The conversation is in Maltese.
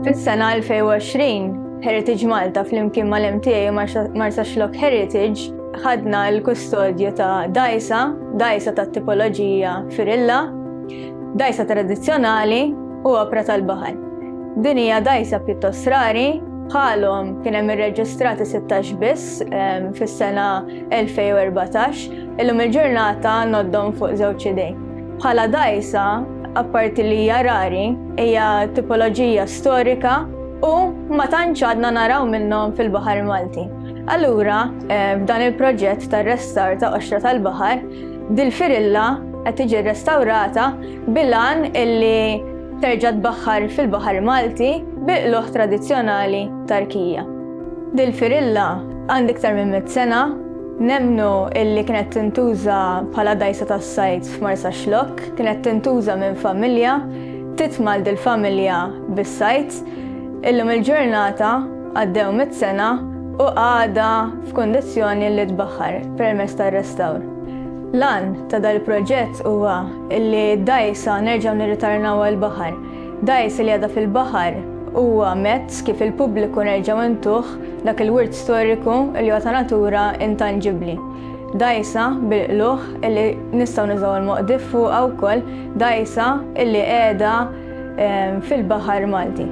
Fis-sena 2020, Heritage Malta flimkien mal-MTA u Marsa Xlok Heritage ħadna l-kustodju ta' dajsa, dajsa ta' tipoloġija firilla, dajsa tradizzjonali u opra tal-baħar. Din hija dajsa pjuttost rari, bħalhom kien hemm irreġistrati 16 biss ehm, fis-sena 2014, illum il-ġurnata noddhom fuq żewġ idej. Bħala dajsa, apparti li hija rari, hija tipoloġija storika u ma tantx għadna naraw minnhom fil-Baħar Malti. Allura, eh, f'dan il-proġett tar-restar ta' qoxra tal-baħar, dil-firilla qed tiġi rrestawrata bilan illi terġa' tbaħħar fil-Baħar Malti bil-qluħ tradizzjonali tarkija. Lil Firilla, għand iktar minn mitt sena, nemmnu illi kienet tintuża bħala dgħajsa tas-sajd f'Marsaxlokk, kienet tintuża minn familja, titmal dil-familja bis-sajd. Illum il-ġurnata, għaddew mitt sena, u għadha f'kundizzjoni li tbaħħar permezz tar-restawr. L-għan ta' dal-proġett huwa illi d-dgħajsa nerġgħu nirritarnawha l-baħar. Dgħajsa li għadha fil-baħar huwa mezz kif il-pubbliku nerġgħu intuh dak il-wirt storiku li huwa ta' natura intanġibbli. Dgħajsa bil-qlugħ li nistgħu nużaw il-Moqdif fuqha wkoll, dgħajsa li qiegħda fil-baħar Malti.